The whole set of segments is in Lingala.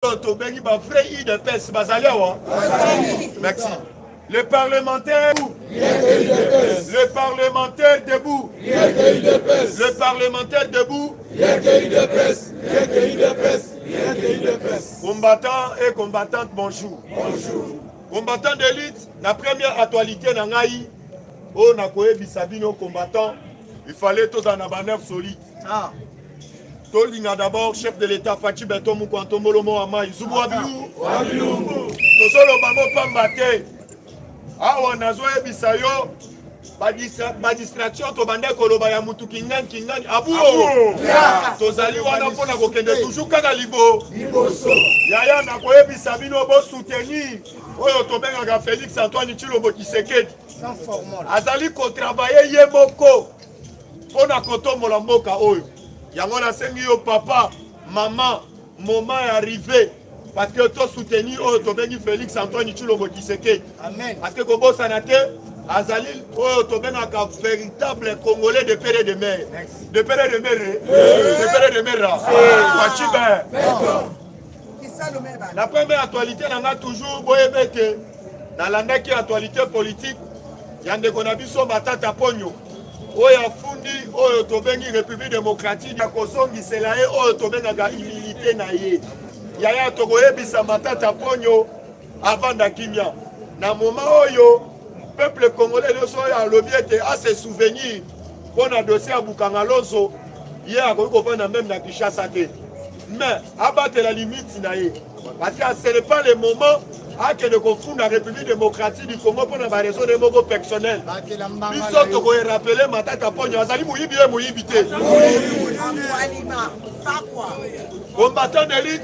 oyo tobengi ba vrai udps bazali awa merci le parlementaire le parlementaire debout le parlementaire debout combattant et combattante bonjour bonjour combattant d'élite na première actualité na ngai oyo nakoyebisa bino combattant il fallait tozala na banerve solide Ah. tolinga d'abord chef de l'état faci beton mukua ntombolo mowa mai zubu wa bilungu tozoloba mopamba te awa nazoyebisa yo badistraction tobanda koloba ya mutu kingani kingani abuo tozali wana mpo na kokende toujours kaka libo yaya nakoyebisa bino bosoutenir oyo tobengaka félix antoine tshilombo kisekedi azali kotravaille ye moko mpo na kotombola mboka oyo. Yango nasengi yo papa, mama, moma ya rive parce que to soutenir oyo tobengi Felix Antoine Tshilombo Tshisekedi. Amen. Parce que kobosana te azali oyo tobengaka véritable congolais de pere de mer de pere de mer de pere de mer facibe na première actualité na nga toujours boyebe ete Nalandaki actualite politique ya ndeko na biso Matata Ponyo oyo afundi oyo tobengi République démocratique ya kozongisela ye oyo tobengaka humilité na ye. Yaya tokoyebisa Matata Ponyo avanda kimia na moma oyo peuple congolais nyonso oyo alobi ete ase souvenir mpo na dossier ya Bukanga Lonzo ye akoki kovanda meme na Kinshasa te. mais abatela limite na ye parce que ce n'est pas le moment akende kofunda république démocratique du congo mpo na bareseau ne moko personnel biso tokoerapele matata mponyo azali moyibi ye moyibi te combattant d'élite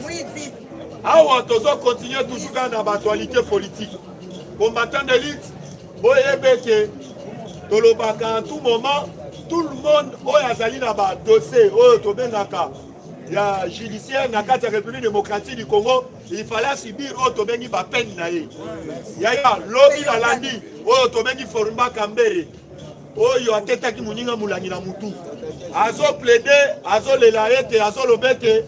awa tozo continue toujours kaka na baactualité politique combattant d'élite boyebe ete tolobaka en tout moment tout le monde oyo azali na badossier oyo tobengaka ya judiciaire na kati ya république démocratique du congo il fallait asibir oyo tobengi bapene na ye yaya lobi nalandi oyo tobengi forumba kambere oyo atetaki moninga molangi na motu azoplede azolela ete azoloba ete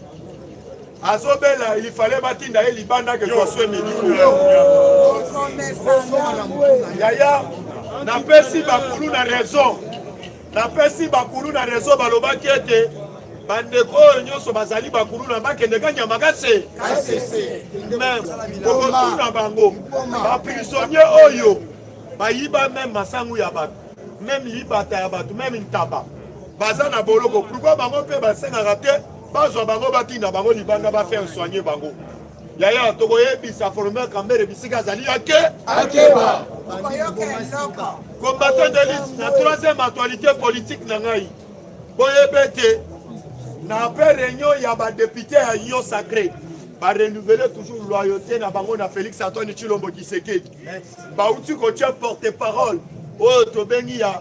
azobela il fallait batinda ye libanda ke koswe miliko yaya napesi bakulu na raison Napesi bakuluna rezo balobaki ete bandeko oyo nyonso bazali bakuluna bakende kanyama kase kokotuna bango baprisonnier oyo bayiba meme masangu ya bato meme libata ya bato meme ntaba baza na boloko pourkoi bango mpe basengaka te bazwa bango batinda bango libanda bafaire soigne bango Yaya tokoyebisa Folomeo Kambere bisika azali ake akeba combattant de liste na troisième actualité politique na ngai boyebe ete na après réunion ya badepute ya union sacré barenouvele toujours loyauté na bango na félix antoine tshilombo kisekedi bauti kotia porte parole oyo tobengi ya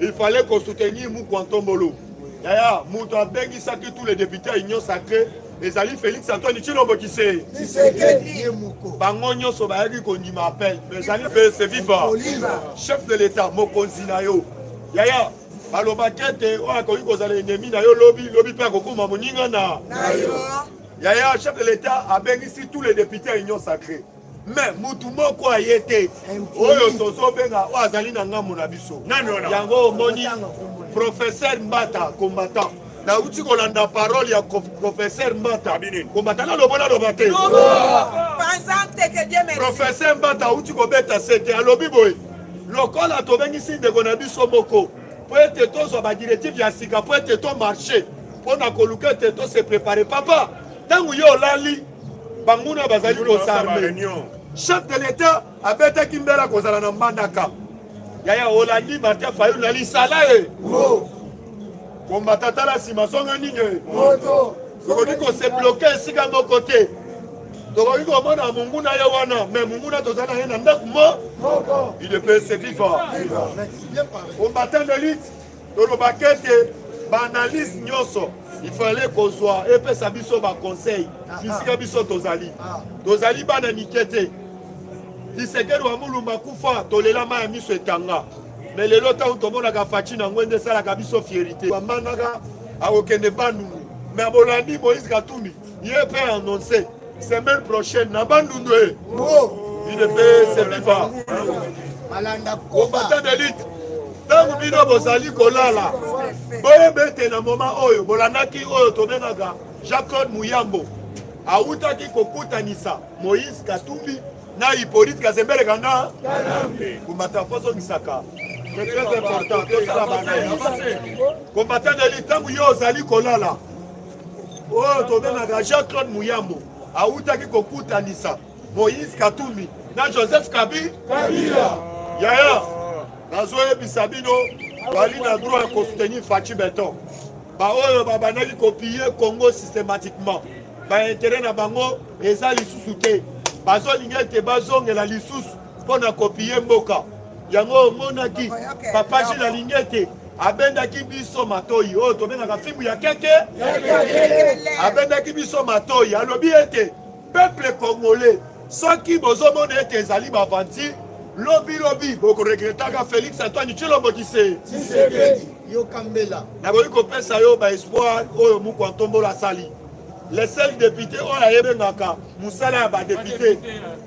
Il fallait ko soutenir Mukwa Ntombolo. Yaya, moto abengisaki tous les députés ya Union Sacrée ezali Félix Antoine Tshilombo Kise. Tshisekedi ye moko. Bango nyonso bayaki kondima appel, mais ezali mpe se viva. Chef de l'État, mokonzi na yo. Yaya, balobaki ete oyo akoki kozala enemi na yo lobi lobi mpe akokoma moninga na yo. Yaya, chef de l'État abengisi tous les députés ya Union Sacrée. me mutu moko aye te oyo tozobenga oyo azali na ngambo na biso yango omoni professeur mbata combattant nauti kolanda parole ya professeur mbata kombata naloba naloba te professeur mbata auti kobeta sete alobi boye lokola tobengisi ndeko na biso moko mpo ete tozwa badirective ya sika mpo ete tomarche mpo na koluka ete tose prepare papa ntango yo olali banguna bazali kosarme chef de l'etat abetaki mbela kozala na mbandaka yaya olandi martin fayulu na lisala ye kombata tala nsima songa nini tokoki kosebloke esika moko te tokoki komona monguna ye wana me monguna toza na ye na ndako mo idepese viva combattant de lutte tolobaka ete baanalyse nyonso ifale kozwa epesa biso baconseil bisika ah, ah. biso tozali ah. tozali bana mike te lisekeli wa mulumba akufa tolela mai ya miso etanga me lelo ntango tomonaka faci na ngwende esalaka biso fierite bamanaka akokende bandundu me abolandi moïse katumbi ye mpe annonce semaine prochaine na bandundu e ine mpe seviva combattant d'élite ntango bino bozali kolala boyeba ete na moma oyo bolandaki oyo tobengaka jean claude muyambo awutaki kokutanisa moïse katumbi na hippolyte kazembele kanga kumata fozongisaka c'est très important tosala bana combattant d'élite ntango yo ozali kolala oyo tobengaka Jean-Claude Muyambo awutaki kokutanisa Moïse Katumbi na Joseph Kabi Kabila. Yaya, nazoyebisa bino bali na droit ya kosutenir Fatshi Beton. Baoyo babandaki kopiller Congo systématiquement bainteret na bango eza lisusu te, bazolinga ete bazongela lisusu mpo na kopiye mboka yango omonaki papa jile alingi ete abendaki biso matoyi oyo tobengaka fimbu ya keke abendaki biso matoyi alobi ete peuple congolais soki bozomona ete ezali bavanti lobilobi bokoregretaka félix antoine tshilombo kise nakoki kopesa yo baespoir oyo moko antombolo asali le seul député oyo ayebengaka mosala ya badepute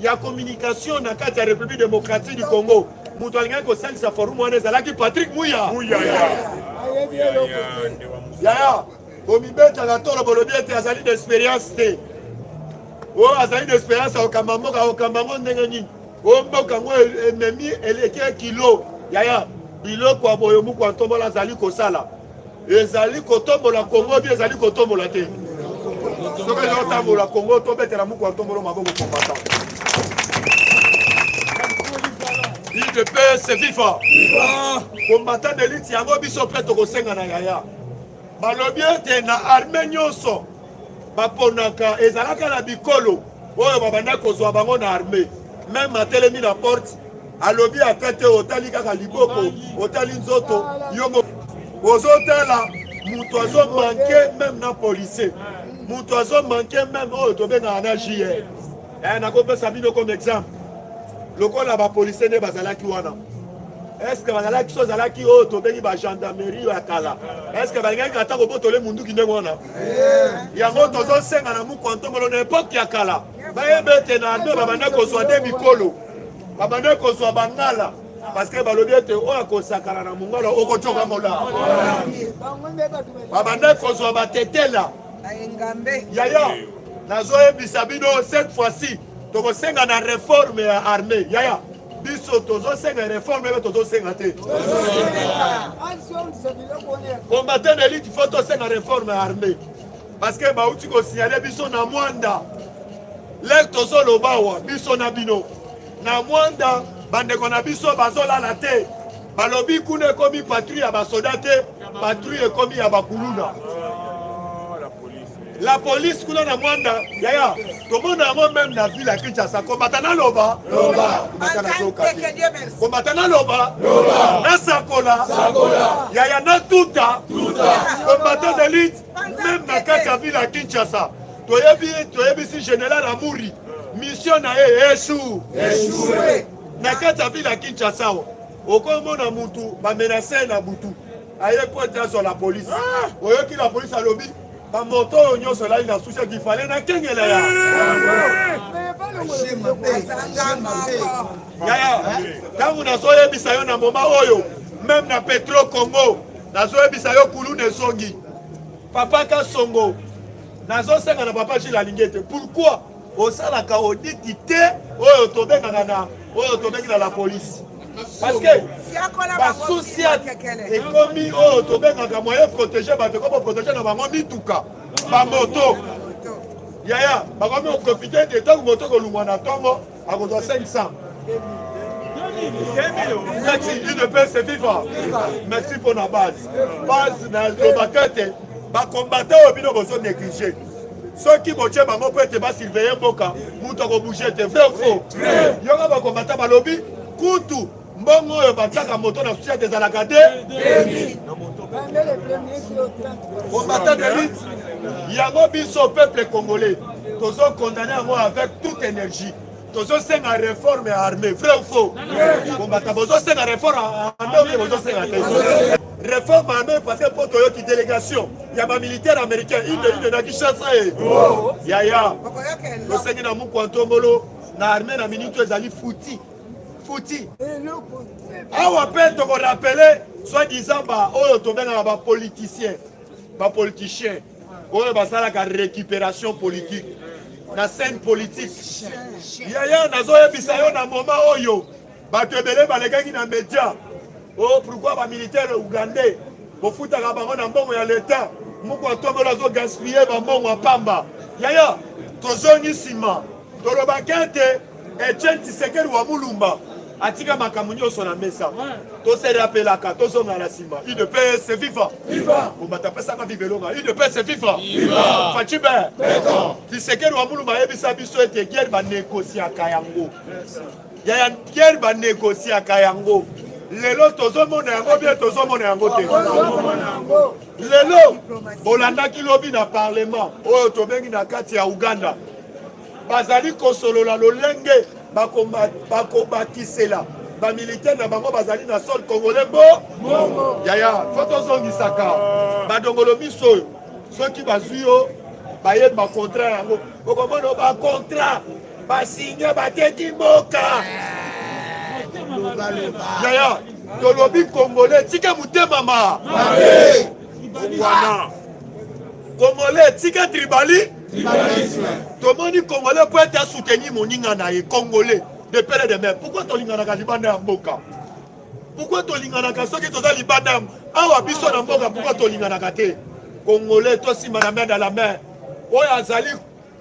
ya communication na kati ya République démocratique du Congo moto alingaki kosalisa forum wana ezalaki Patrick Muya yaya komibetaka tolo bolobi ete azali na expérience te oyo oh, azali na expérience ya kokamba mboka kokamba yango ndenge nini oyo oh, mboka yango ememi eleki kilo yaya biloko ya boyo moko ya ntombola azali kosala ezali kotombola kongo bi ezali kotombola te soki ezali kotambola kongo tobetela muku ya ntombolo maboko kombata udps viva kombata delite yango biso mpe tokosenga na yaya balobi ete na arme nyonso baponaka ezalaka na bikolo oyo babanda kozwa bango na arme meme atelemi na porte alobi ata te otali kaka liboko otali nzoto yo ozotala moto azo manke meme na policier moto azo manke meme oyo tobengaka na jr eh, nakopesa bino comme exemple lokola bapolicier nde bazalaki wana eske bazalaki so ezalaki oyo tobengi bagendarmerie ya kala eske balingaki ata kobotole munduki ndenge wana yango tozosenga na mokwantomolo na epoke ya kala bayeba ete na ado babanda kozwa nde mikolo babanda kozwa bangala parceke balobi ete oyo akosakana na mongala okocoka molaa babanda kozwa batetela yaya nazoyebisa bino cette fois-ci tokosenga na reforme ya armée yaya biso tozosenga reforme ebe tozosenga te combatant elite fo tosenga reforme ya armée parce que bauti kosignale biso na mwanda lere tozoloba awa biso na bino na mwanda bandeko na biso bazolala te balobi kuna ekomi patrouille ya basoda te patrouille ekomi ya bakuluna la police kuna na mwanda yaya tomona yango meme na ville ya kinshasa kombata naloba kombata naloba nasakola yaya natuta kombata delite meme na kati ya vile ya kinshasa toyebi toyebisi general amuri mission na ye esu na kati ya vile ya kinshasa okomona mutu bamenase na butu aye po ete azwa la polise ah! oyoki la polise alobi bamoto oyo nyonso elali na susi akifale na kengela ya yaya ntango nazoyebisa yo na moma oyo meme na petro congo nazoyebisa yo kuluna ezongi papa kasongo nazosenga na papa jile alingi ete pourkui osalaka oditi te oyo tobengaka na oyo tobengi na la polise parceke basusi ekomi oyo tobengaka moyen protege bato ekomi koprotege na bango mituka bamoto yaya bakomi koprofite te ntango moto kolungwa na ntongo akozwa 500 merci udps viva merci mpo na base base na lobaka ete bakombata oyo bino bozo néglige soki botye bango mpo ete basurveye mboka moto akobouge te vrai faux yoka bakombata balobi kutu Mbongo oyo batiaka moto na societe ezalaka te combattant de lutte yango biso peuple congolais tozo condamne yango avec toute énergie tozosenga réforme ya armée vrai ou faux bombata bozosenga réforme ya armée oyo bozosenga te réforme armée parce que mpo toyoki délégation ya bamilitaire américain inde inde na kinshasa ye yaya tosengi na mukwa ntombolo na armée na minute ezali futi futi awa mpe tokorapele soit disant ba oyo tobengaka bapoliticien bapoliticien oyo basalaka récupération politique na scène politique yaya nazoyebisa yo na moma oyo bato ebele balekaki na média o oh, pourkui bamilitaire ougandais bofutaka bango na mbongo ya leta moko atombola azogaspille bambongo ya pamba yaya tozongi nsima tolobaka ete Etienne Tshisekedi wa Mulumba atika makambo nyonso na mesa toserapelaka tozonga na nsima udps viva kombata apesaka viva elonga udps viva facibe kisekeli wa muluma ayebisa biso ete guerre banegosiaka yango yaya guerre banegosiaka yango lelo tozomona yango bie tozomona yango te lelo bolandaki lobi na parlement oyo tobengi na kati ya uganda bazali kosolola lolenge bakobakisela bamilitaire na bango bazali na sol congolais bo yaya fo tozongisaka badongolo miso oyo soki bazwi yo bayeli bakontrat yango okomona bakontrat basinye bateki mboka yaya tolobi congolais tika motema ma wana congolais tika tribali tomoni congolais mpo ete asoutenir moninga na ye congolais de pere de mer pourkoi tolinganaka libanda ya mboka pourkoi tolinganaka soki toza libanda ya awa biso na mboka pourkoi tolinganaka te congolais tosimba na main na la main oyo azali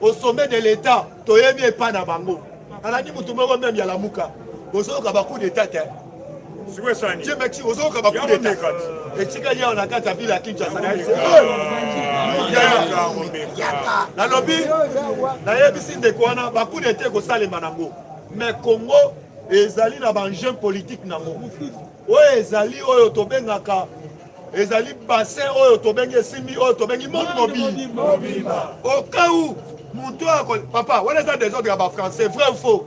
au sommet de l'état toyebi epai na bango alandi motu moko meme ya lamuka bozoyoka bacoup d'état te Jemeki ozoyoka bakudeta etikali awa na kati ya vile ya Kinshasa nalobi nayebisi ndeko wana bakudeta ekosalema nango mais Congo ezali na baenjeu politique nango oyo ezali oyo tobengaka ezali bassin oyo tobengi esimbi oyo tobengi monde mobimba au cas où moto oyo papa wana eza desordre ya bafrançais vrai ou faux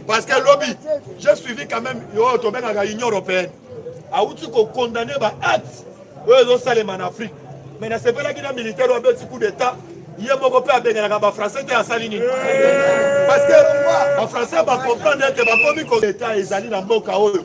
parce que lobi j'ai suivi quand même oyo tobengaka union européenne awuti kokondamne baacte oyo ezosalema na afrique mais nasepelaki na militaire oyo abeti coup d'état ye moko mpe abenganaka bafrançais te asali nini parce que bafrançais bacomprendre ete bakomi ko leta ezali na mboka oyo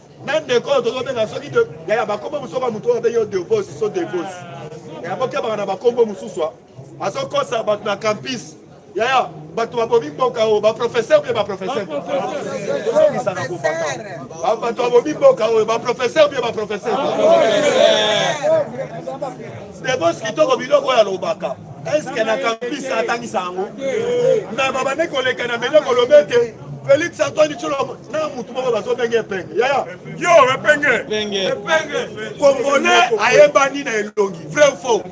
na ndeko oyo tozobenga soki yaya bakombo mosusu oka motu oyo abengi yo devosi so devosi yaya bokebaka na bakombo mosusu azokosa bato na campus yaya bato babomi mboka oyo baprofesseur mpe baprofesseurozongisaka kobata bato babomi mboka oyo baprofesseur mpe baprofesseur debos kitoko biloko oyo alobaka eske na campus atangisa yango na babande koleka na mele kolobe te félix antoine tshilombo na mutu moko bazobenge epenge yaya yo epenge congolais ayebani na elongi vrai faux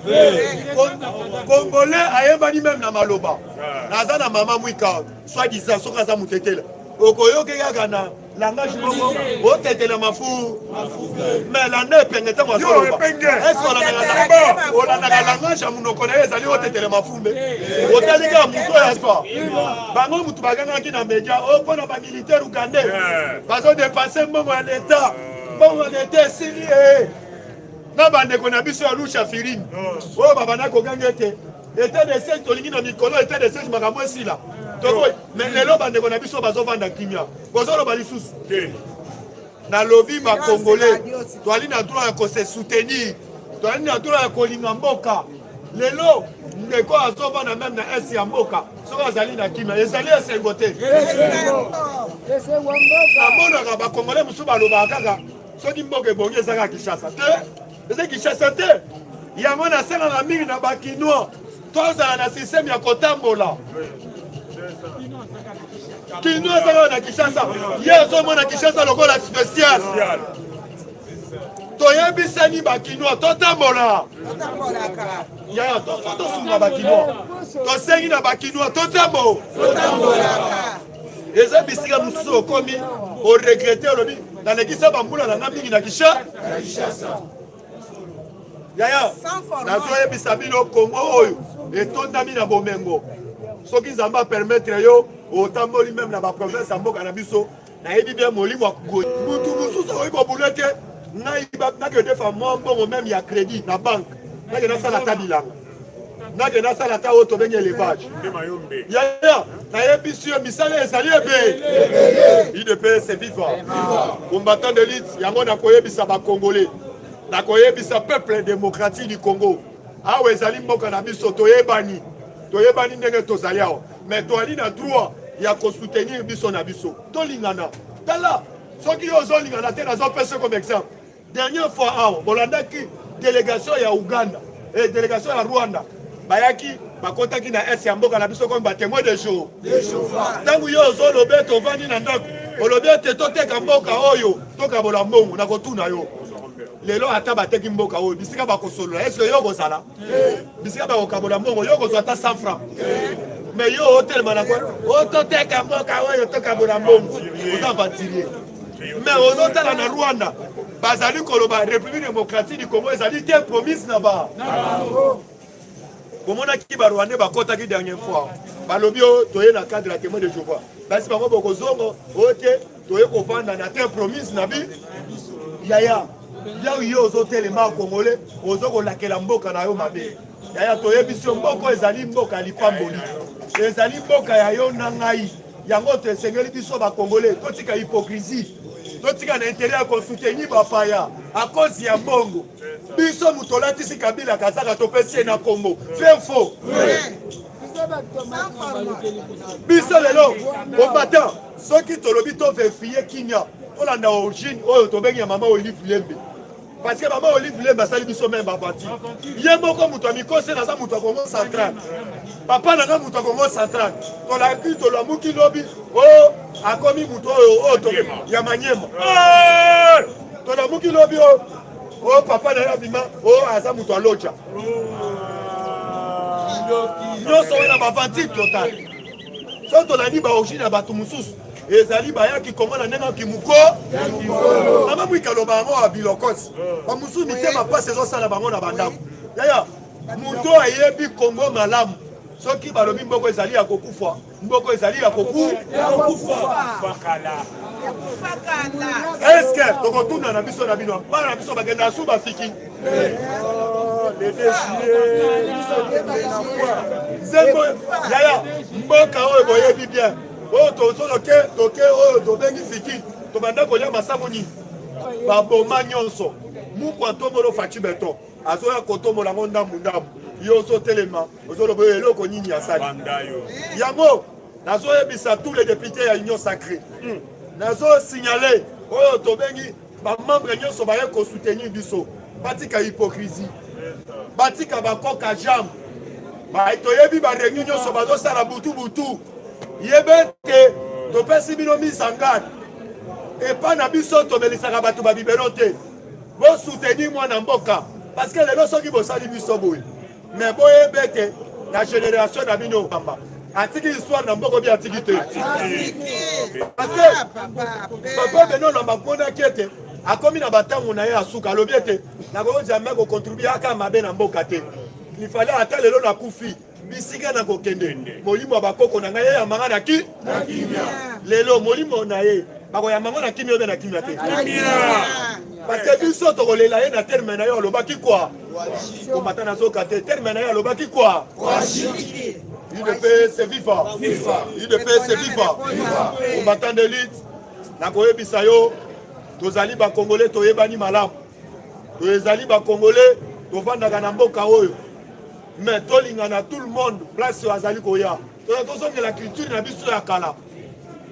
congolais ayebani meme na maloba naza na mama mwika soit disant soki aza mutetela okoyoki kaka na langage moko otetela mafu mais landa epenge ntango azoloba eske olandaka langage ya monoko na ye ezali otetela mafu Katumbe otali kaka moto oyo azwa bango moto bagangaki na media oyo oh, mpo na bamilitaire ugandais eh. bazodepanse mbongo ya leta eh. mbongo ya leta esili ye eh. na bandeko na biso ya lusha firimi oyo oh, babanda koganga ete etat de siège tolingi na mikolo etat de siège makambo esila tokoy me lelo bandeko na biso bazovanda kimia bozoloba lisusu nalobi ba congolais toali na droit ya ko se soutenir toali na droit ya kolinga mboka lelo ndeko azovanda meme na esi ya mboka soki azali na kimia ezali esengo te namonaka bakongole mosusu balobaka kaka soki mboka ebongi ezaka kinshasa te eza kinshasa te yango nasengaka mingi na bakinois tozala na systeme ya kotambola kino azalaka na kinshasa ye azomona kinshasa lokola spécial toyebisani bakinois totambola yaya tofo tosunga bakinois tosengi na bakinois totambo eza bisika mosusu okomi oregrete olobi nalekisa bambula na nga mingi na kisha yaya nazoyebisa bino kongo oyo etondami na bomengo soki nzambe apermetre yo otamboli meme na baprovince ya mboka na biso nayebi bien molimo ya kugoi motu mosusu akoki kobula te ngai nakende fa mwa mbongo meme ya credit na banke nakende asala ata bilanga nake nasala ata oyo tobengi elevage yaya nayebisi yo misala ezali ebele idps viva combattant de lite yango nakoyebisa bacongolais nakoyebisa peuple démocratique du congo awa ezali mboka na biso toyebani toyebani ndenge tozali awa mais toali na droit ya kosoutenir biso na biso tolingana tala soki yo ozolingana te nazopesa comme exemple Dernière fois awa bolandaki delegation ya Uganda et eh, delegation ya Rwanda bayaki bakotaki na est ya mboka na biso comme ba témoin de jour ntango yo ozoloba ete ovandi na ndako olobi ete toteka mboka oyo tokabola mbongo na kotuna yo lelo ata bateki mboka oyo bisika bakosolola eske yo okozala bisika bakokabola mbongo yo okozwa ata 100 franc me yo otelema na ototeka mboka oyo tokabola mbongo oza aventurier me ozotala na rwanda bazali koloba république démocratique du congo ezali te promise na ba bomonaki barwandais bakotaki dernière fois balobi o oh, toye na cadre ya témoin de jehovah basi bango bokozongo oyo oh, te toye kovanda na terre promise na bi yaya yau yo ozotelema kongole ozo kolakela mboka na yo mabe yaya toyebisi yo mboka ezali mboka ya lipamboli ezali mboka ya yo na ngai yango to esengeli biso bakongole totika hypocrisie totika na intere ya kosuteni bapaya akozi ya mbongo biso moto olatisi kabila kazaka topesi ye na kongo vrai faux biso lelo combattant soki tolobi to verifie kimia tolanda origine oyo tobengi ya mama olive lembe parce que mama olive lembe asali biso meme aventure ye moko moto ya mikose naza moto ya kongo central papa nanga moto ya kongo central tolaki tolamuki lobi o oh, akomi moto oyo oh, oyo oh, ya manyema tolamuki lobi o o papa na ye abima o aza moto ya loja nyonso wana bavanti total soki tolandi baorigine ya bato mosusu ezali bayaki kongo na ndenge kimoko mama mwikaloba yango ya bilokosi bamosusu mitema mpasi ezosala bango na bandako yaya moto ayebi kongo malamu soki balobi mboko ezali ya kokufa Mboko ezali ya koku ya kokufa kala. Eske tokotuna na biso na bino bana na biso bakenda su bafiki nzembo yaya mboka oyo boyebi bien oyo tozoloke toke oyo tobengi fiki tobanda kolia masambo nini baboma nyonso mukwa tobolo faci beton azoya kotombola ngo ndambu ndambu yo ozotelema ozoloba oyo eloko nini asali yango nazoyebisa tous les députés ya union sacré hmm. nazosignale oyo tobengi bamembre nyonso baye kosoutenir biso batika hypocrisie batika bakoka jambe baye toyebi bareunion nyonso bazosala butu butu yebe ete topesi bino mise en garde epai na biso tomelisaka bato babibelo te Bo soutenir mwana mboka parce que lelo soki bosali biso boye mais boyebe ete na generation na bino kamba atiki histoire na mboko bi atiki te parce que papa beno na mamonaki ete akomi na batango na ye ya suka alobi ete nakoki jamais kocontribue aka mabe na mboka te ifale ata lelo nakufi bisika na kokende molimo ya bakoko na ngai eyamba ngai na ki na kimia lelo molimo na ye bakoyamba ngo na kimia obe na kimia te parce que biso tokolela ye na terme na yo alobaki kwa komata nazoka te terme na ye alobaki kwa udps viva udps viva combattant d'élite nakoyebisa yo tozali bakongole toyebani malamu oyo ezali bacongolais tovandaka na mboka oyo mais tolingana tout le monde place oyo azali koya toya tozongela culture na biso ya kala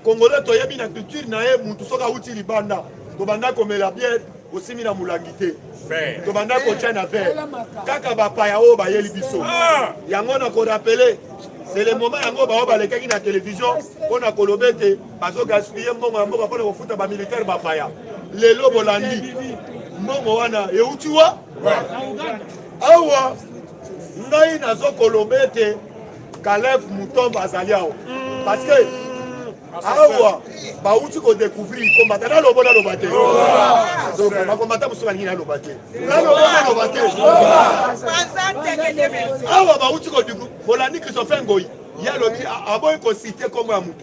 congolais toyebi na culture na ye mutu soki awuti libanda tobanda komela biere osimbi na molangi te tobanda kotya na vere kaka bapaya oyo bayeli biso ah! yango na korapele c'est le moment yango baoyo balekaki na televizio mpo na koloba ete bazo gaspiller mbongo ya mboka mpona kofuta ba militaire bapaya lelo bolandi mbongo wana euti wa awa ngai nazokoloba ete kalef mutombo azali awa parce que awa bauti kodecouvrir kombata nalobo naloba te bakombata mosusu balingi naloba te nalobo naloba te awa bauti bolandi kristofe ngoi ye alobi aboyi kosite nkombo ya moto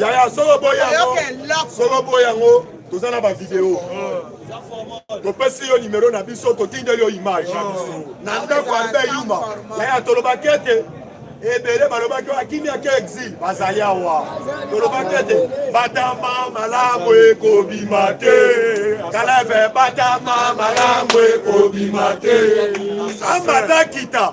yaya soko boyi yango soko boyi yango toza na bavideo topesi yo nimero na biso totindeli yo image na ndako arbe yuma yaya tolobaki ete ebele balobaki akimia ke exil bazali awa tolobaki ete batama malamu ekobima te kaleve batama malamu ekobima te ambata kita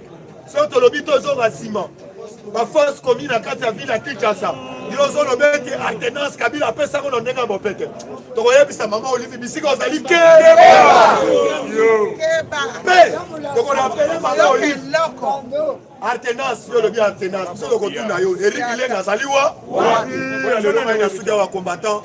soki tolobi tozonga nsima baforce komi na kati ya ville ya kinshasa yo ozoloba ete alternance kabila apesa yango na ndenge ya bopete tokoyebisa mama olivi bisika ozali keba mpe tokorapele mama olivi alternance yo olobi alternance biso tokotuna yo eriki lenge azali wa oyo alelo mai na suki ya bacombattant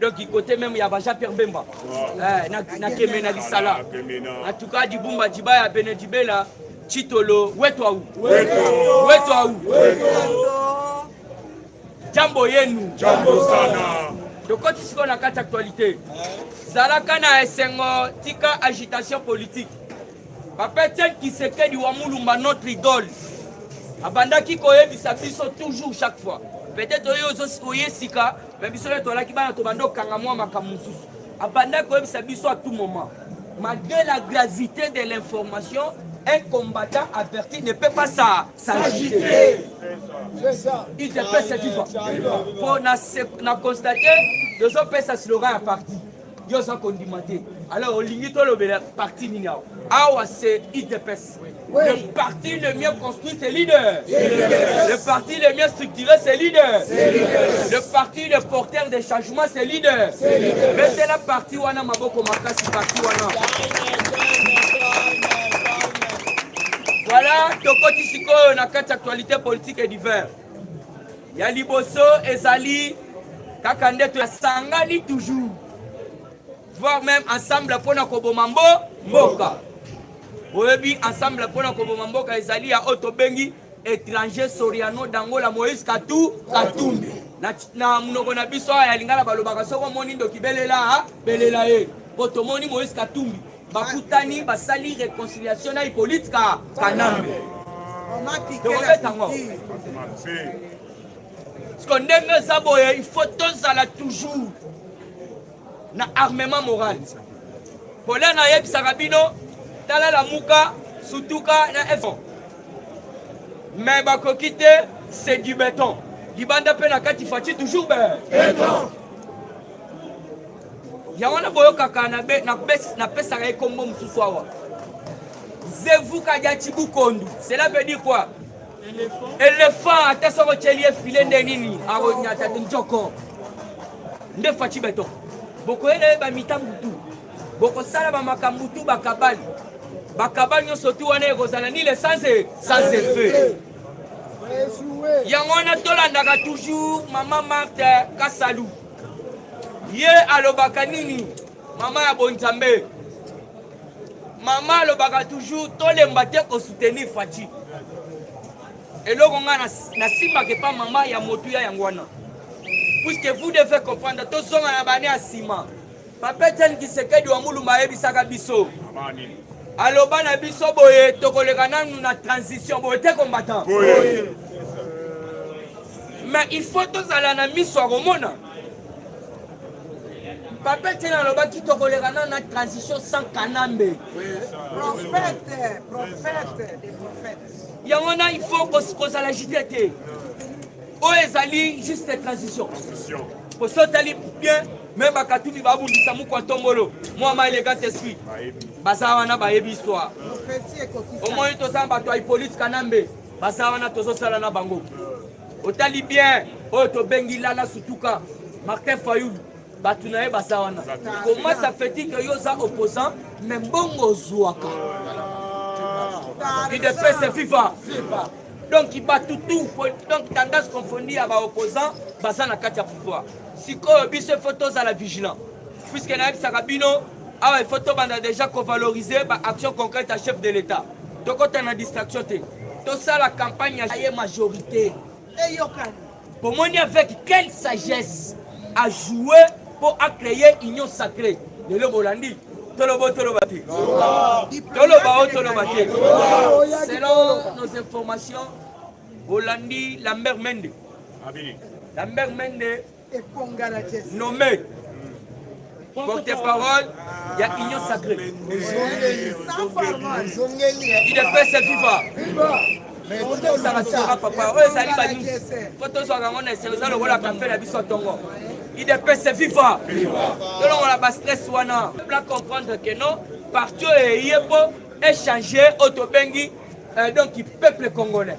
donc côté même ya baja pierre bemba eh, nakeme na lisala en tout cas dibumba dibaya bene dibela chitolo wetu au wetu au jambo yenu jambo sana tokoti sikoyo na kati actualité zalaka na esengo tika agitation politique papa etienne kisekedi wa mulumba notre idole abandaki koyebisa biso toujours chaque fois peut-être oyo oye sika me biso nde tolaki bana tobanda kokanga mwa makambo mosusu abandaki koyebisa biso à tout moment malgré la gravité de l'information un combattant averti ne peut pas s'agiter. C'est ça. Il te fait cette fois. Pour na, na constater, les autres ça slogan à partir. yo oza kondima te alors olingi tolobela parti nini awa awa c'est idps oui. le parti le mieux construit c'est leader le parti le mieux structuré c'est leader le parti le porteur des changements c'est leader betela parti wana maboko makasi parti wana voilà tokoti sikoyo na kati actualité politique et divers ya liboso ezali kaka nde tosangani toujours voire même ensemble mpo na koboma mbo mboka oyebi ensemble mpo na koboma mboka ezali ya oyo tobengi étranger soriano dangola moïse katu katumbi na, na monoko na biso ya lingala balobaka soki omoni ndoki belela belela ye mpo tomoni moïse katumbi bakutani basali reconciliation na Hippolyte ka Kanambe tokobeta ngo siko ndenge eza boye il faut tozala toujours na armement moral pole nayebisaka bino tala lamuka sutuka na efo mais bakoki te c'est du béton libanda mpe na kati faci toujours be yango na boyokaka napesaka ye kombo mosusu awa zevuka dia chibukondu cela veut dire quoi elephant ata soki otyeli ye file nde nini akonyata njoko nde faci beton bokoyela ye bamitambu tu bokosala bamakambo tu bakabali bakabali nyonso tu wana ekozala ni le sans effet yango wana tolandaka toujours mama marte kasalu ye alobaka nini mama ya bonzambe mama alobaka toujours tolemba te kosoutenir faci eloko ngai nasimbaka epa mama ya motuya yango wana puisque vous devez comprendre tozonga na bane ya nsima Papa Etienne Kisekedi wa Mulumba ayebisaka biso aloba na biso boye tokoleka nanu na transition boye te combattant mais il faut tozala na miso ya komona papa etienne alobaki tokoleka nanu na transition sans kanambe yango na il faut kozala jite te oyo ezali juste transition po so otali bien me bakatuni babundisa mokwa ntombolo mwa ma elegant esprit baza wana bayebi histoire omoni toza na bato ya hippolite kanambe baza wana tozosala na bango otali bien oyo tobengi lala sutuka martin fayulu bato na ye baza wana komasa feti ke yo oza opposant me mbongo ozwaka idepese viva donc bato tout donc tendance confondue ya baopposant baza na kati ya pouvoir sikoyo biso ifo tozala vigilant puiske nayebisaka bino awa ifo tobanda déjà kovaloriser baaction concrète ya chef de l'état tokota na distraction te tosala campagne ya ye majorité eyokani Bomoni avec quelle sagesse a jouer mpo a créer union sacrée lelo bolandi toloba o toloba te toloba o toloba te selon nos informations bolandi lambert mende lambert mende nommé porte-parole ya union sacrée idepese viva tozala tora papa oyo ezali banews mpo tozwaka yango na eselo eza lokola kafe na biso ntongo idepese viva tolongola bastress wana pla comprendre que non parti oyo eye mpo echange oyo tobengi euh, donc peuple congolais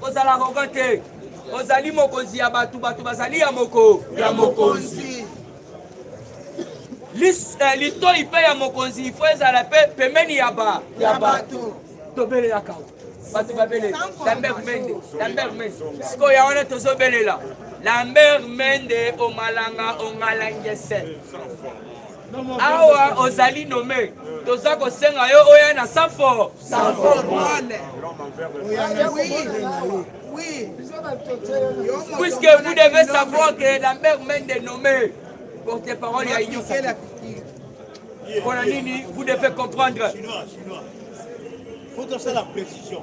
Kozala rogo te. Ozali mokonzi ya bato, bato bazali ya moko ya mokonzi. Lis, eh, litoi mpe ya mokonzi ifo ezala mpe pembeni ya ba ya bato tobelelaka bato babeleli lambert mende lambert mende sikoyo ya wana tozobelela lambert mende omalanga ongalangese awa ozali nome toza kosenga yo oya na sanfo puisque vous devez savoir que lambert mende nommé porte parole ya union sacrée mpona nini vous devez comprendre faut tosala précision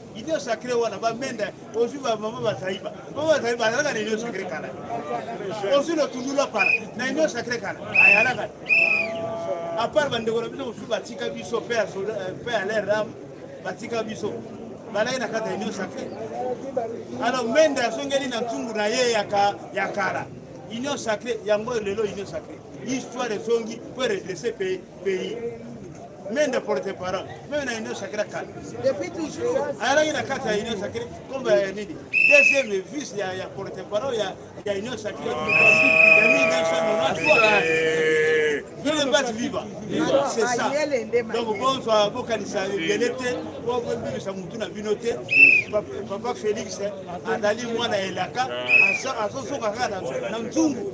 Union sacrée wana ba menda ozwi ba mama bazaiba mama bazaiba azalaka na union sacrée kala ozwi na tundula pala na union sacrée kala ayalaka à part bandeko na biso mosusu batika biso pe à l'air ram batika biso balaki na kati ya union sacrée alors menda azongeli na ntungu na ye ya kala union sacrée yango lelo union sacrée histoire ezongi po redresse pays pays mais n'importe parent meme na union sacrée kala depuis toujours ayalaki na kati ya union sacrée kombo ya nini deuxième vice ya ya porte parole ya ya union sacrée ya 1993 Vive Bat Viva c'est ça donc bonsoir bokanisa ebele te bobebisa motu na bino te papa félix azali mwana ya elaka azosoka kaka na nzungu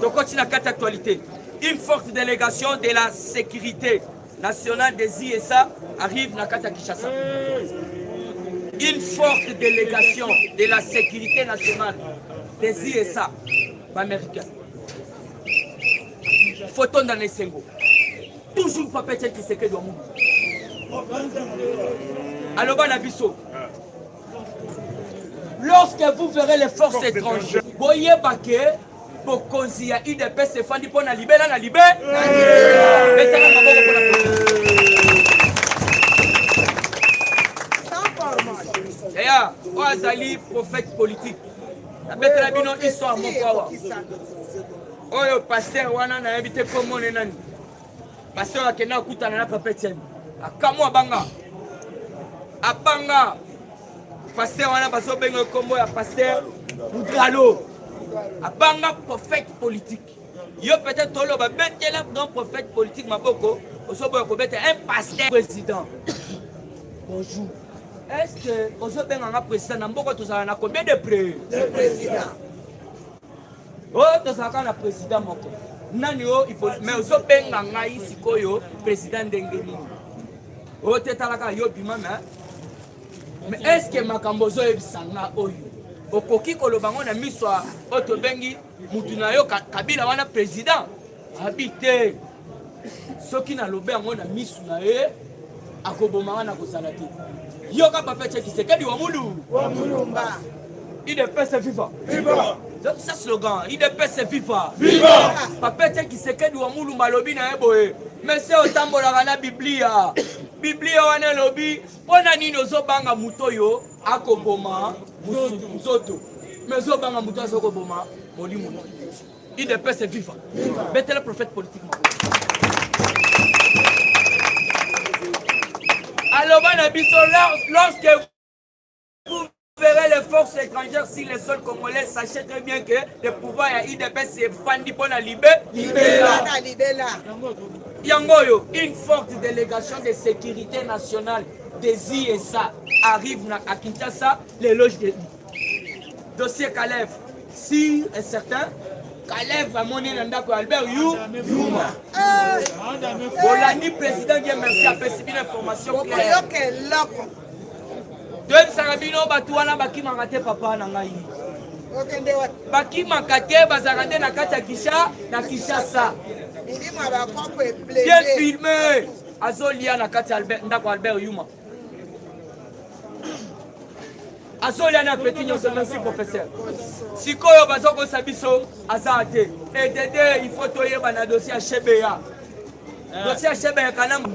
tokoti na kati actualité une forte délégation de la sécurité nationale des ISA arrive na kati ya Kinshasa une forte délégation de la sécurité nationale des ISA baméricain foto ndana esengo toujours papete kisekedi wa mubu aloba na biso lorsque vous verrez les forces étrangères boyeba ke bokonzi ya udps efandi mpo na libela na libe betaka maboko mpo na deya oyo azali prophète politique nabetela bino histoire moko awa oyo paster wana nayebi te komone nani Pasteur akenda akutana na papa Etienne. Akamwa abanga. Abanga. Pasteur wana bazo benga kombo ya pasteur Mugalo. Abanga prophète politique. Yo peut-être tolo ba betela dans prophète politique maboko. Osoboya ko beta un pasteur président. Bonjour. Est-ce que ozo benga nga président na mboko tozala na combien de près? De président. oyo tozalaka na presida moko nani oyo mais ozobenga ngai sikoyo presida ndenge nini oyo te talaka yo bima me mais estce makambo ozoyebisa nga oyo okoki koloba ngo na miso oyo tobengi mutu na yo kabila wana president abi te soki nalobe yango na misu na ye akoboma nga nakozala te yoka papeche kisekedi wa mulu wa mulumba idps viva viva zokisa slogan idps viva viva papeche kisekedi wa mulumba alobi na ye boye mese otambolaka na biblia biblia wana elobi mpo na nini ozobanga moto oyo akoboma nzoto me ozobanga moto azokoboma molimo Udps viva. Betela prophète politique moko. Aloba na biso lorsque vous verrez les forces étrangères si les sols congolais sachez très bien que le pouvoir ya UDPS efandi mpo na libe libela. Yango oyo une forte délégation de sécurité nationale des ISA arrive na à Kinshasa l'éloge de dossier Kalev si et certain Kalev amoni na ndako ya Albert Yu Yuma bolandi président Guy merci apesi bino information claire toyebisaka bino bato wana bakimaka te papa na ngai bakimaka te bazalaka nde na kati ya kisha na kinshasa bien filme azolia na kati ya ndako albert yuma azolia na peti nyonso merci professeur sikoyo bazokosa biso aza te edede il faut toyeba na dossier ya shebeya eh. dossier ya shebeya kanambe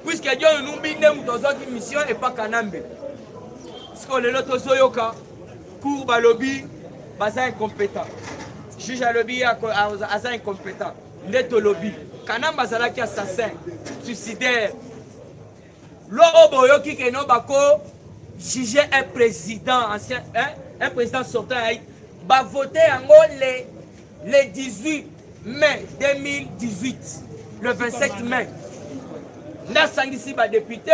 puiske john numbi nde moto azwaki mission epa kanambe sikoyo lelo tozoyoka cour balobi baza incompétent juge alobi aza incompétent nde tolobi kanamba azalaki assassin suicidaire lo oyo boyoki keno bako juge un président ancien hein? un président sortant ya bavote yango le, le 18 mai 2018 le 27 mai nde asangisi badepute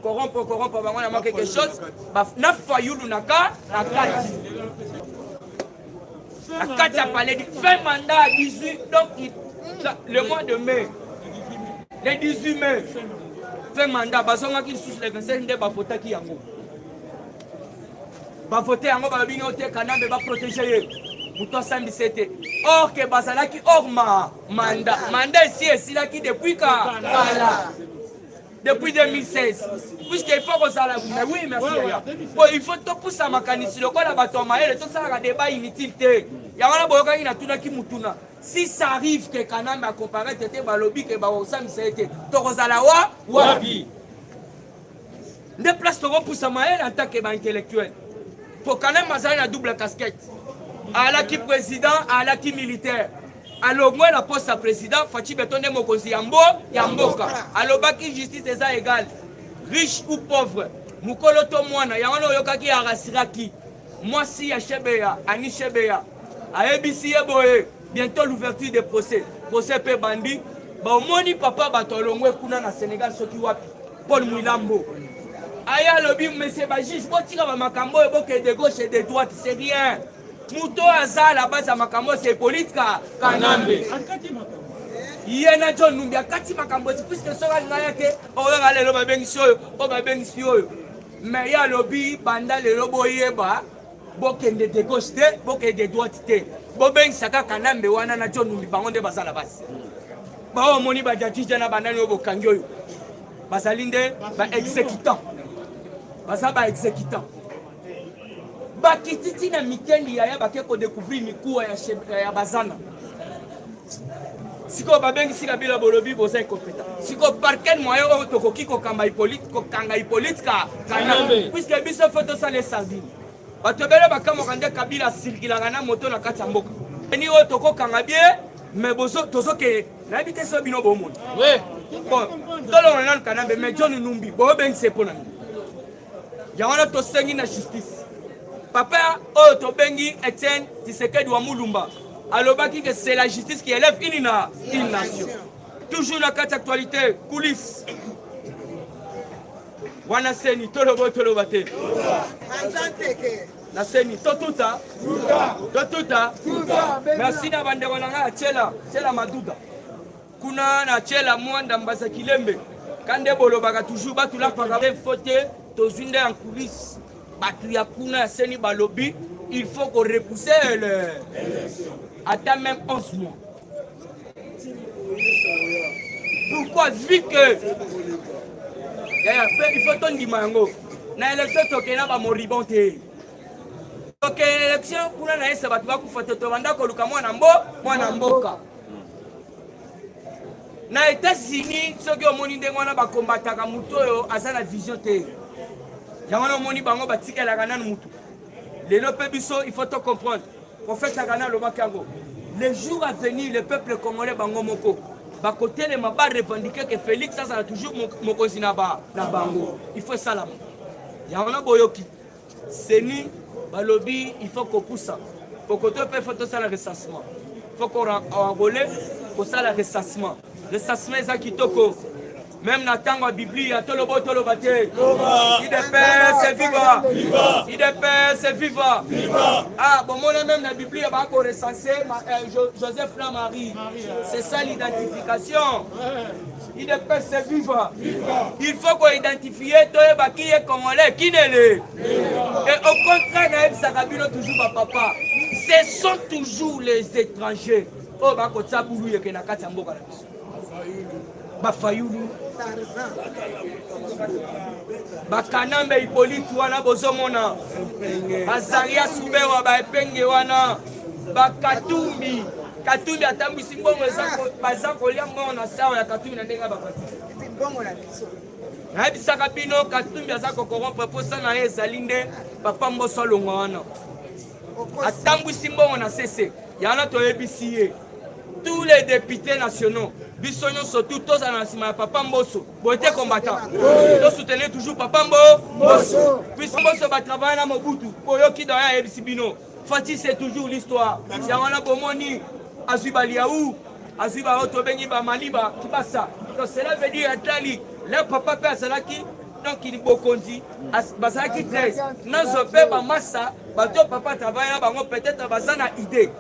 corrompre corrompre bango na mwa quelque chose na fayulu na ka na kati na kati ya paledi fin mandat 18 donc le mois de mai le 18 mai fin mandat bazongaki lisusu le 25 nde bavotaki yango bavote yango balobi ngi ote kanambe baprotege ye moto asambisa ye te or ke bazalaki or ma manda manda esi esilaki depuis ka kala depuis 2016 puisque il faut kozala mais oui merci yaya po il faut topusa makanisi lokola bato ya mayele tosalaka débat inutile te yango wana boyokaki natunaki motuna si ça arrive ke kanambe akoparete te balobi ke bakosamisa ye te tokozala wa wapi nde place tokopusa mayele en tant ke baintellectuel po kanambe azali na double casquette alaki président alaki militaire alongwe na poste ya president faci beton nde mokonzi ya mbo ya mboka alobaki justice eza egale riche ou pauvre mokolo to mwana yango na oyokaki arasiraki mwasi ya shebeya ani shebeya ayebisi ye boye bientôt l'ouverture de procès procès mpe bandi baomoni papa bato alongwe kuna na senegal soki wapi paul mwilambo aya alobi monsieur bajuge botika bamakambo oyo bokende gauche de droite c'est rien moto oyo aza la base ya makambo se politika kanambe ye na john numbi akati makambo esi puiske soki alinga ya te oyoka lelo babengisi oyo oyo babengisi oyo me ye alobi banda lelo boyeba bokende de gauche te bokende de droite te bobengisa kaka kanambe wana na john numbi bango nde baza la base baoyo omoni bajajija na banani oyo bokangi oyo bazali nde ba exécutant baza ba exécutant bakititi na mikendi yaya bake kodecouvrir mikuwa ya, ya, ya bazana sikoyo babengisi kabila bolobi boza ekopeta sikoyo parken moye oyo tokoki kokamba kokanga hipolite ka kana puiske biso fo tosala esardine bato ebele bakamwaka nde kabila asirkilaka na moto na kati ya mboka ni oyo tokokanga bie me tozokende nayebi te so bino bomoni tolongola nanu kanambe me john numbi boyobengisa epo na nini yango wana tosengi na justice papa oyo tobengi etienne tisekedi wa mulumba alobaki que c'est la justice qui élève une, na, une nation toujours na kati actualité coulisse wana seni tolobo toloba te na seni totuta totuta merci na bandeko na ngai ya tiela tiela maduda kuna na chela mwanda mbasa kilembe kande bolobaka toujours batu lapaka te fo te tozwi nde en coulisse bato ya kuna ya seni balobi il faut ko repousser le ata même 11 mois pourquoi vu que il faut tondima yango na élection tokei na bamoribon te tokei na élection kuna na esa bato bakufa te tobanda koluka mwana mbo mwana mboka na etats-unis soki omoni ndenge wana bakombataka moto oyo aza na vision te yango wana omoni bango batikelaka nanu motu lelo mpe biso il faut to comprendre profeta kana alobaki yango le jour à venir le peuple congolais bango moko bakotelema barevendike ke félix azala toujours mokonzi na bango il faut esalama yango na boyoki Ceni balobi il faut kopusa kokoto mpe faut tosala recensement faut ko enrole kosala recensement recensement eza kitoko meme na ntango ya biblia tolobo toloba te idps viva idps viva ah bomona meme na biblia bakorecense euh, joseph na marie c'est ça l'identification Udps viva. Il faut ko identifier toyeba qui est congolais, qui ne l'est. Et au contraire nayebisaka bino toujours ba papa, ce sont toujours les étrangers oyo oh, bakotia bulu yeke na kati ya mboka na biso. Bafayulu, bakanambe Hippolyte wana bozomona, Azaria Subewa baepenge wana ba katumbi katumbi atambwisi mbongo baza kolia mbongo na sawa ya katumbi na ndenge ya bapati nayebisaka bino katumbi aza kokorompre mposa na ye ezali nde papa mboso alongwa wana atambwisi mbongo na sese yana toyebisi ye tous les députés nationaux biso nyonso tu tozala na nsima ya papa mboso boye te combattant tosoutenir toujours papa mbo puisque mboso batravaille na mobutu oyoki doyen ayebisi bino Fatsi c'est toujours l'histoire. Ya wana bomoni azwi ba liaou, azwi ba oyo tobengi ba maliba kibasa. Donc cela veut dire atali le papa mpe azalaki donc libokonzi bazalaki 13 nazo mpe bamasa bato papa travaille na bango peut-être baza na idée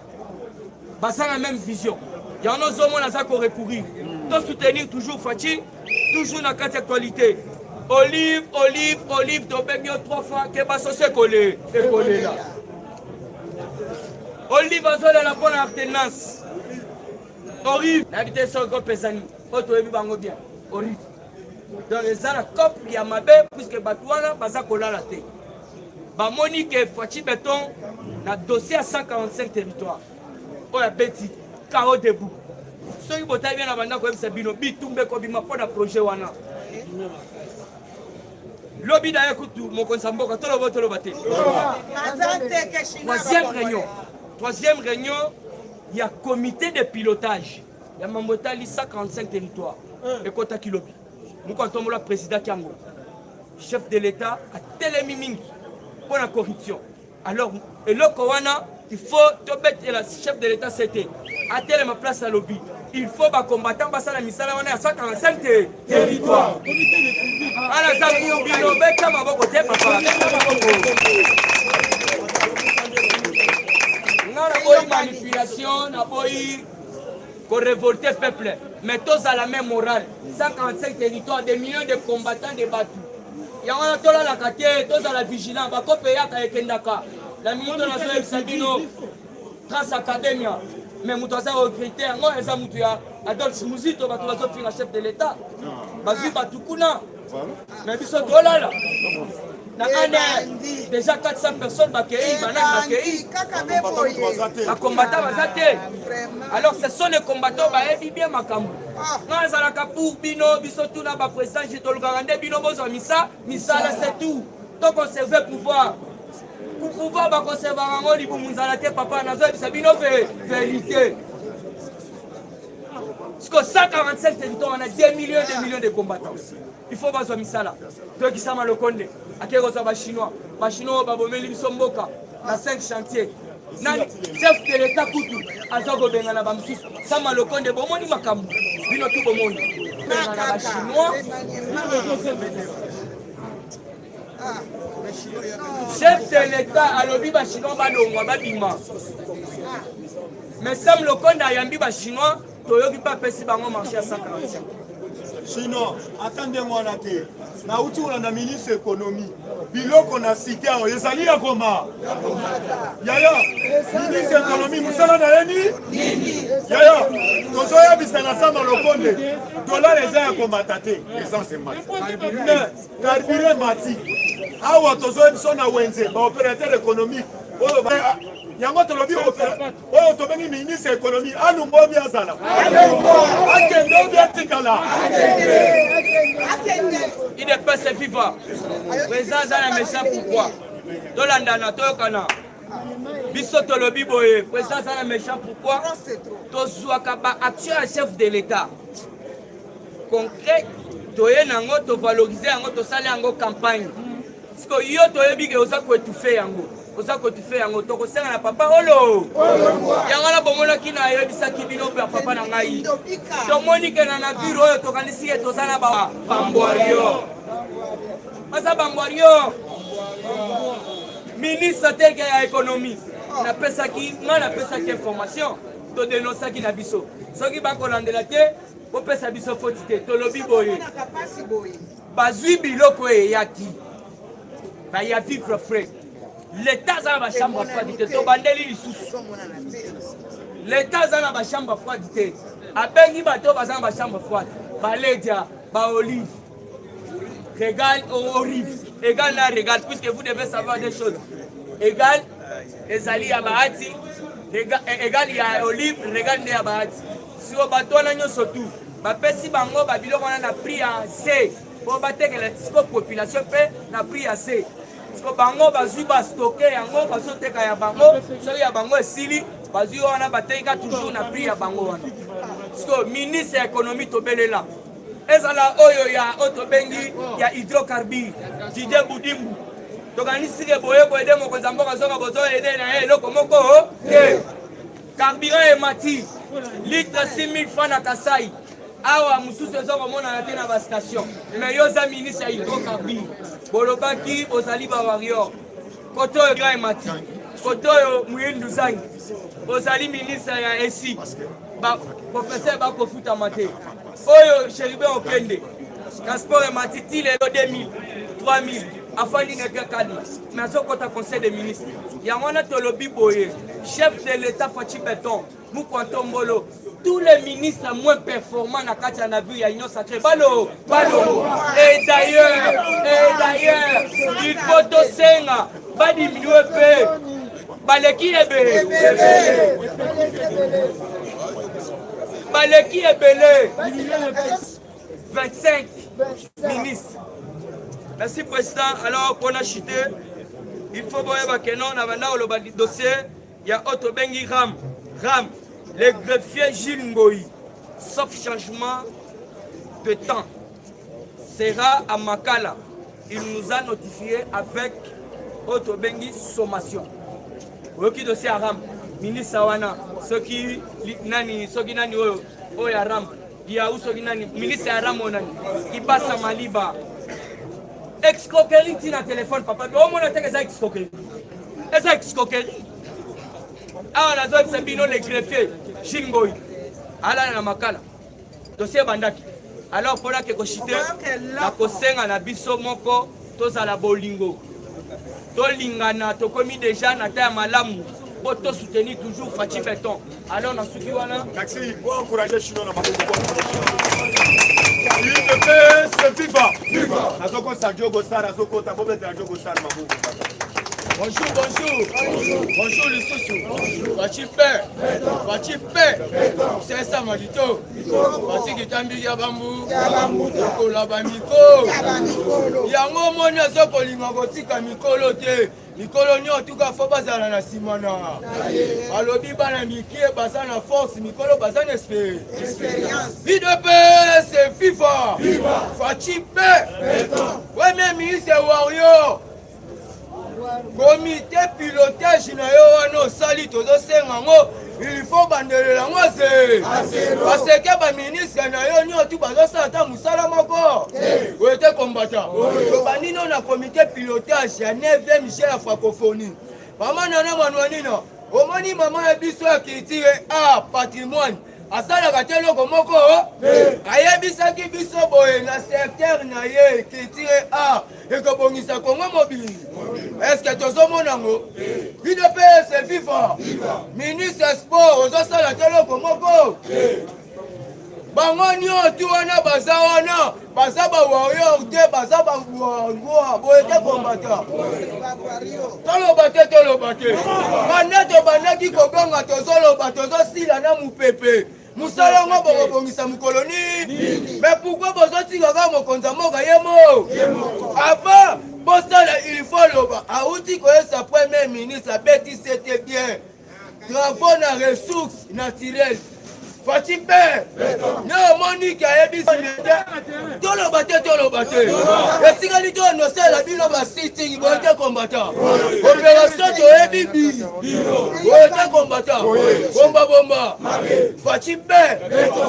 baza na même vision yango ozomona aza korecourir to soutenir toujours faci Toujours na kati actualité. Olive, olive, olive, tobemi yo trois fois, keba sosi ekole, ekolela. Olive azolela mpo na alternance. Olive, nayebi te soki kopesani, mpo toyebi bango bien. Olive. Donc eza na cop ya mabe puisque bato wana baza kolala te. Bamoni ke Fatshi Beton na dossier ya 145 territoire. oyo abeti kao debout soki botali bien na banda koyebisa bino bitumba ekobima mpo na projet wana lobi na ye kutu mokonzi ya mboka toloba toloba te troisième réunion troisième réunion ya comité de pilotage ya mambo etali 145 territoire ekotaki lobi moko atombola président kiango chef de l'état atelemi mingi mpo na corruption Alors eloko wana il faut tobetela chef de l'etat sete atelema place alobi il faut bacombattant basala misala wana ya 145 te territoire ala za bino beta maboko te papa beta maboko nga naboyi manipulation naboyi korevolte peuple mais tozala même morale 145 territoire des millions de combattants de bato yango wana tolalaka te tozala vigilant bakope eyaka ekendaka na minute oyo nazoyebisa bino trace academia me moto aza regrete yango eza moto ya adolphe muzito bato bazofinga chef de l'état bazwi bato kuna me biso tolala na ane déjà 400 personnes bakei banani bakei bakombata baza te alors ce sont les combattants bayebi bien makambo nga azalaka pour bino biso tuna ba président je tolukaka nde bino bozwa misa misala c'est tout to conserver pouvoir pouvoir ba conserver yango libumu nzala te papa nazoyebisa bino pe vérité siko 145 territoire wana 2 millions 2 millions de combattants il faut bazwa misala toyokisama lokonde akei kozwa bachinois bachinois oyo babomeli biso mboka na 5 chantier nani chef de l'etat kutu aza kobengana bamosusu sama lokonde bomoni makambo bino tu bomoni bengana bachinois chef de l'etat alobi bachinois balongwa babima mais sam lokonde ayambi bachinois toyoki mpe apesi bango marché ya 145 sinon ata ndenge wana te nauti kolanda ministre ekonomi biloko na site awa ezali ya koma yaya ministre ekonomi mosala na ye nini yaya tozoyebisa na sama lokonde dolare eza ya komata te essence emati carburant emati awa tozoyebiso na wenze baopérateur économique oyo yango tolobi oyo tobengi ministre ya ekonomi alunga obi azala akende obi atikala idps viva preza aza na mesa pourkoi tolandana toyokana biso tolobi boye preza aza na mesa pourkoi tozwaka baaction ya chef de l'état concret toye na yango tovalorize yango tosali yango campagne siko yo toyebi ke oza koetufe yango oza kotufe yango tokosenga na papa olo yango wana bomonaki na yebisaki bino mpe ya papa na ngai tomoni ke na navire oyo tokanisi ye toza na bambwario baza bambwario ministre teke ya ekonomie napesaki ngai napesaki information todenosaki na biso soki bakolandela te bopesa biso foti te tolobi boye bazwi biloko eyaki baya vivre frais leta aza na bachambre ya froide te tobandeli lisusu leta aza na bachambre ya froide te abengi bato oyo baza na bachambre froide baledia baolive regal orive egal na regal puisque vous devez savoir des choses egal ezali ya bahati egal eh, ya olive regal nde ya bahati sio bato wana nyonso tu bapesi bango babiloko wana na prix ya se po batekela siko population mpe na prix ya se siko bango bazwi bastoke yango bazoteka ya bango soki ya bango esili bazwi wana bateka toujours na prix ya bango wana siko ministre ya économie tobelela ezala oyo ya oyo tobengi ya hydrocarbure didie budimbu tokanisi ke boye koyede mokonzi ya mboka zonga bozoyede na ye eloko moko te Carburant emati litre 6000 francs na Kasai. awa mosusu eza komonana te na bastation mais yo oza ministre ya hydrocarbure bolobaki ozali bawarior kote oyo grand emati kote oyo moyindu zangi ozali ministre ya esi baprofesseur bakofutama te Oyo Cherubin Okende, transport ya matiti lelo 2000, 3000 afandi na kakani me azokota conseil de ministre yango wana tolobi boye chef de l'etat faci beton mukwa ntombolo tous les ministres moins performants na kati ya navire ya union sacré balo balo et d'ailleurs et d'ailleurs il faut tosenga badiminue mpe baleki ebele baleki ebele 25 ministre merci président alors mpona chute il faut boyeba ke non na banda koloba dossier ya oyo tobengi ram ram le greffier gile ngoi sauf changement de temps sera à Makala. Il nous a notifié avec autre bengi sommation. Oyoki dossier ya Ram, ministre wana soki nani soki nani oyo oyo ya Ram, ya soki nani ministre ya Ram oyo nani Ibasa Maliba. Escroquerie tina téléphone papa. Omona teke eza escroquerie. Eza escroquerie. Awa nazoyebisa bino le greffier Shingoi alala na Makala. dosi ebandaki alors mpo nake koshite na kosenga na biso moko tozala bolingo tolingana tokomi deja na ta ya malamu mpo tosoutenir toujours faci beton alors nasuki wana nazokosa jogo star azokota bobetela jogo star maboko bonjour bonjour bonjour lisusu faci père Fachi pe sesa malito Fachi kitambi ya bambu lokola ba mikolo yango omoni aza kolinga kotika mikolo te mikolo nio tuka fo bazala na nsima na balobi bana mikie baza na force mikolo baza na idps fifa fachi pe premier ministre wario komite pilotage na yo wana osali tozosenga ngo il faut bandelela yango ze baseke baministre na yo nio tu bazosala ata mosala moko oyo te kombata tobandi no na komite pilotage ya 9e je ya francophonie mama nana manuanina omoni mama ya biso ya culture a patrimoine asalaka te eloko moko ayebisaki biso boye na secteur na ye culture a ekobongisa kongo mobili eske tozomona ngo bino mpe se viva ministre ya sport ozosala te eloko moko bango nyonso wana baza wana baza ba warrior te baza ba warrior boye te kombata toloba te toloba te banda tobandaki kobanga tozoloba tozosila na mopepe mosala yango bokobongisa mokolo nini me pourkui bozotika kaka mokonzi ya mboka ye mo avant bosala ilfo loba auti koyesa premier ministre abeti sete bien travaux na ressource naturelle faci mpe nde omoniki ayebisi toloba te toloba te etikali to nosala bino basiting boye te kombata operation toyebi bi boye te kombata bombabomba faci be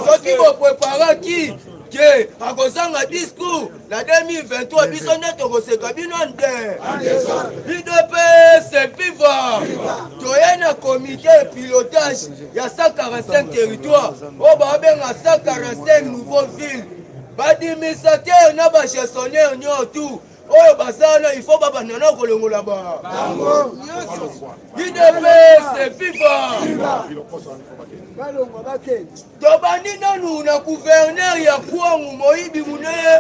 soki bopreparaki te akozanga discours na 2023 biso nde tokoseka bino nde idps viva toye na comité pilotage ya 145 territoire oyo babenga 145 nouveau ville badimisateur na bagestionnaire nio tout oyo baza wana ifo babanda na kolongola bango idps viva tobandi nanu na guverner ya kwangu moyibi monene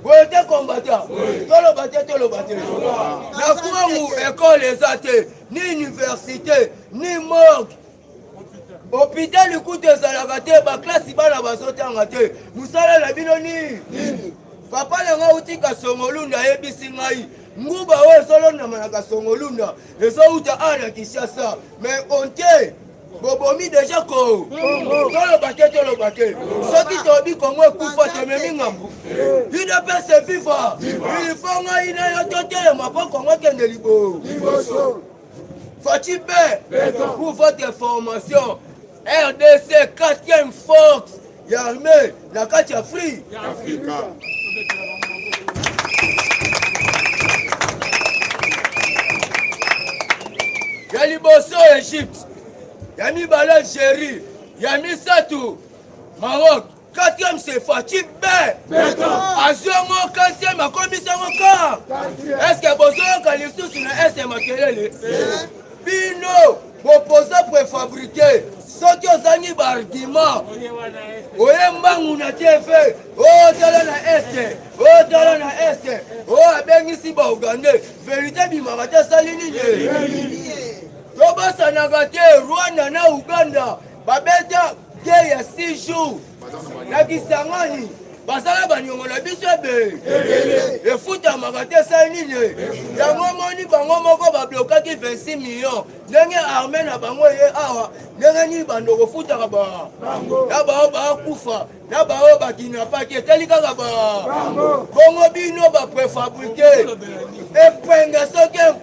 boye te kombata toloba te toloba te na kwangu ekole eza te ni université ni morgue hopitali kutu ezalaka te baklasi bana bazotanga te mosala na bino nini papa na ngai auti kasongolunda ayebisi ngai nguba oyo ezolondama na kasongolunda ezouta awa na kinshasa mais onte bobomi deja ko toloba te toloba te soki tobi kongo ekufa tomemi ngambu udps viva ilifo ngai na yo totelema mpo kongo ekende liboso faci pe pour votre information rdc 4e force ya armee na kati ya free ya afrika ya liboso egypte ya mibale algerie ya misato maroc quatrième c'est Fatih B. azwi yango quatrième akomisi yango kar estce bozoyoka lisusu na este makelele bino bopoza prefabrike soki ozangi baargument oye mbangu na teve otala na este otala na este o abengisi baugandais verite bimaka te asali nini tobosanaka te rwanda na uganda babeta guerre ya 6 jours na kisangani basala baniongo na biso ebe efutamaka te esali nini yango omoni bango moko bablokaki 26 million ndenge arme na bango eye awa ndenge nini bando kofutaka ba na baoyo bakufa na baoyo bakinapaki etali kaka ba bongo bino baprefabrike epenge soki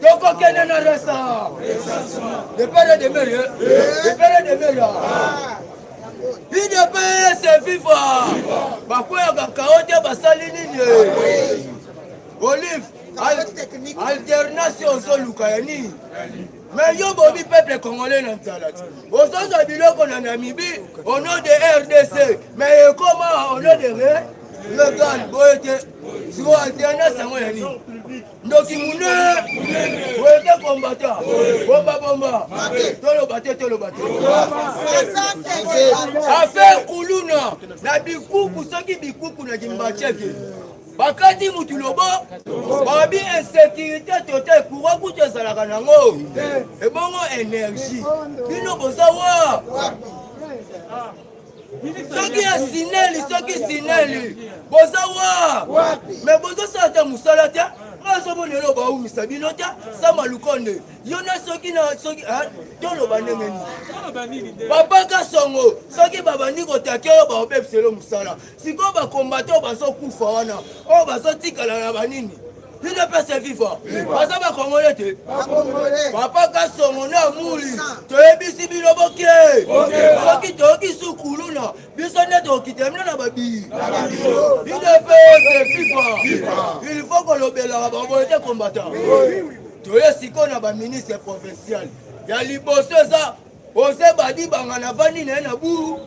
tokokende na resa de pere de mere de pere de mere idps viva bakweyaka kao te basali nini olive alternance ozoluka ya nini me yo bobi peuple congolais na nzala ti ozozwa biloko na namibi au nom de rdc me ekoma au nom de regal boye te sikoyo alternance yango ya nini ndoki munene wete kombata bombabomba toloba te toloba te afe kuluna na bikuku soki bikuku na kimbaceke bakati mutu lobo babi insécurité total courant kutu ezalaka nango ebongo énergie bino boza wa soki esineli soki esineli boza wa me bozosala te mosala te nazomona elo baumisa bino te sama lukonde yo na soki na soki toloba ndenge nini babaka songo soki babandi kotake yo baobebiselo mosala sikoyo bakombata oyo bazokufa wana oyo bazotikala na banini bino pese viva baza bakongole te papa kasongo na muli toyebisi bino boke soki toyoki sukuluna biso nde tokokita bino na babii bino pese viva il faut kolobelaka baboye te kombata toye sikoyo na baministre provincial ya liboso eza oze badi banga navandi na ye na buru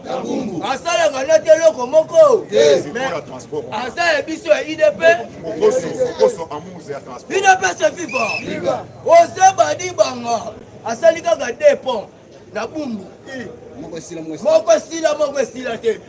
asalaka na te eloko moko aza ya biso ya idp idp se viva oze badi banga asali kaka depon na bumbu moko esila moko esila te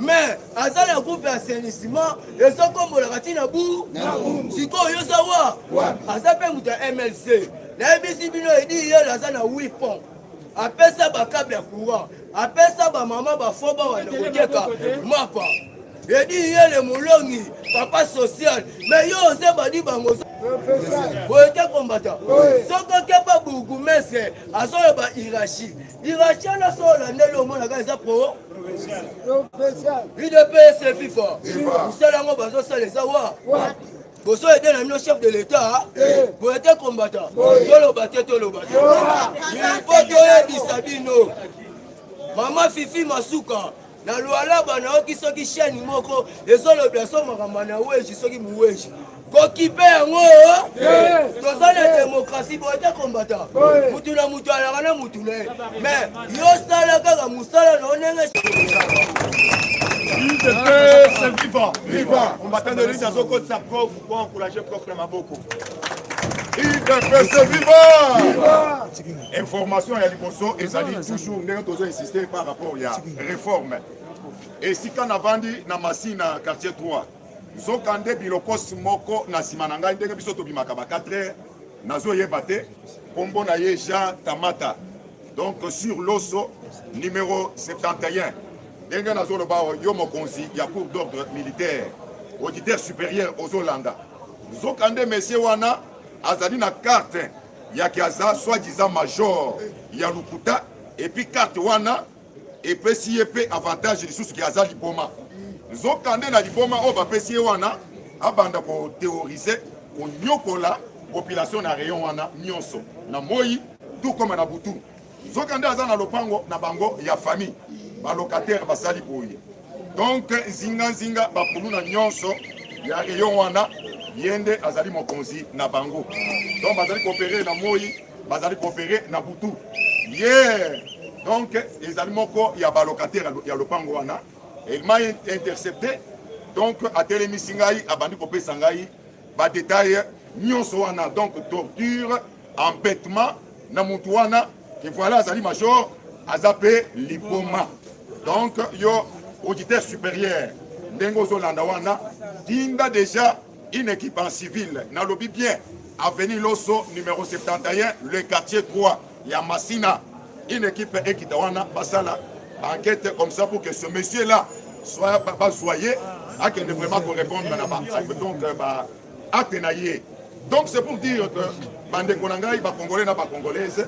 mais aza na groupe ya assainissement ezokombolaka ti na bu sikoyo yo za wa aza mpe moto ya mlc nayebisi bino edi yelo aza na wi pont apesa bakable ya courant apesa bamama bafo bawanda koteka mapa edi yele molongi papa social me yo oze badi bango boye te kombata soki okeba bourgoumestre azoyeba hierarchie Direction na sola ndeli omonaka eza pro udps fifa mosala yango bazosala eza wa boso ede na bino chef de l'état eh. boye te kombata toloba te toloba te ilfo toyebisa bino mama fifi masuka na lualaba nayoki soki sheni moko ezolobela so makambo na weji soki muweji kokipe yango toza na demokrasi boye te kombata mutu na mutu alaka na mutu na ye me yo sala kaka mosala na yo ndenge viva viva combattant de lutte azokotisa prof po encourage prof na maboko udps viva Information ya liboso ezali toujours ndenge tozo insister par rapport ya reforme esika navandi na Masina quartier 3 nzoka nde bilokos moko na nsima na ngai ndenge biso tobimaka ba 4 heures nazoyeba te nkombo na ye jean tamata donc sur loso numero 71 ndenge nazoloba yo mokonzi ya cour d'ordre militaire auditeur supérieur ozolanda nzoka nde mesie wana azali na carte yake aza soit disant major ya lokuta epuis carte wana epesi ye mpe avantage lisusu ke aza liboma nzoka nde na liboma oyo bapesi ye wana abanda koterrorise konyokola population na rayon wana nyonso na moi tout comme na butu Nzoka nde aza na lopango na bango ya famille, ba locataire basali boye. Donc nzinga nzinga bakuluna nyonso ya rayon wana ye nde azali mokonzi na bango. Donc bazali koopere na moi, bazali koopere na butu. Yeah. Donc ezali moko ya ba locataire ya lopango wana. Il m'a intercepté donc atelemisi ngai abandi kopesa ngai ba details nyonso wana donc torture embetement na mutu wana ke voilà azali major aza pe liboma donc yo auditeur supérieur ndenge ozolanda wana tinda déjà une équipe en civil nalobi bien avenue loso numéro 71 le quartier 3 ya masina une équipe ekita wana basala enquête comme ça pour que ce monsieur là soit bazwa ye akende vraiment korépondre na donc euh, acte na ye donc c'est pour dire que bandeko na ngai bacongolais na bacongolaise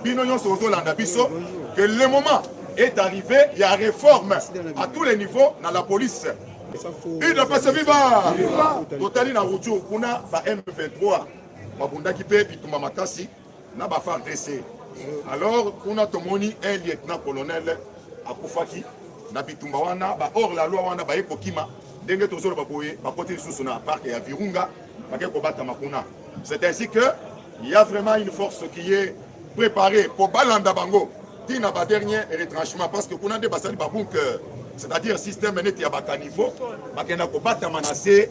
bino nyonso ozolanda biso que le moment est arrivé ya réforme à tous les niveaux na la police udps viva totali na ruju kuna ba m23 babundaki mpe bitumba makasi na ba FARDC alors kuna tomoni un lieutenant colonel akufaki na bitumba wana ba hors la loi wana baye kokima ndenge tozoloba boye bakoti lisusu na parc ya virunga bake kobatama kuna c'est ainsi que il y a vraiment une force qui est préparée mpo balanda bango ti na ba dernier retranchement parce que kuna nde basali babunker c'est-à-dire système neti ya bacaniveau bakenda kobatama na se